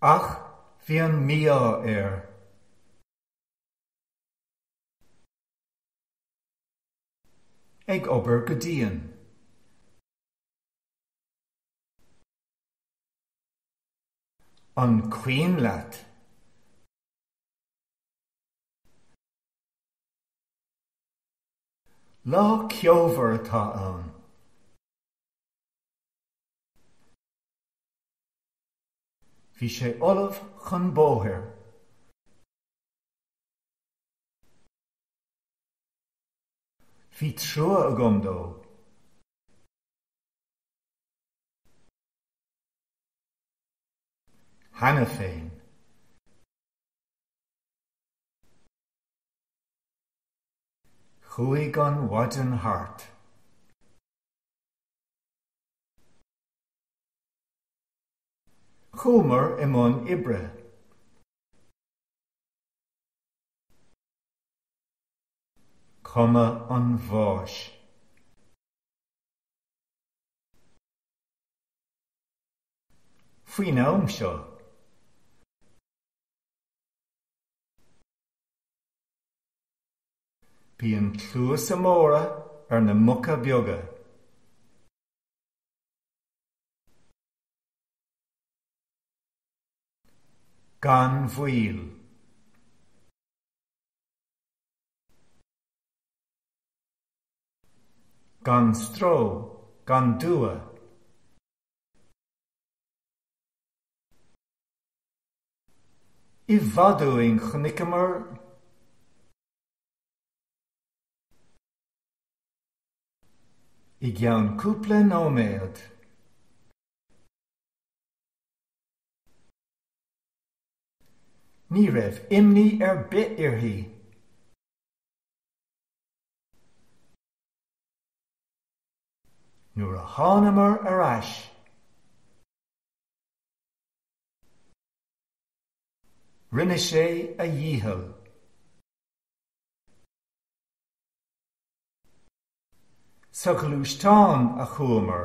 Ach bhí an mí-ádh air. Ag obair go dian. An cuimhin leat? Lá ceomhar atá ann. Bhí sé ullamh chun bóthair. Bhí trua agam dó. Cheana féin. Chuaigh an mhaidean thart. Chuamar i mbun oibre. Cuma an bháis. Faoin am seo. Bíonn cluasa móra ar na muca beaga. Gan mhoill. Gan stró, gan dua. I bhfad uainn chonaiceamar. I gceann cúpla nóiméad. Ní raibh imní ar bith uirthi. Nuair a thánamar ar ais. Rinne sé a dhícheall. Sa ghluaisteán a chuamar.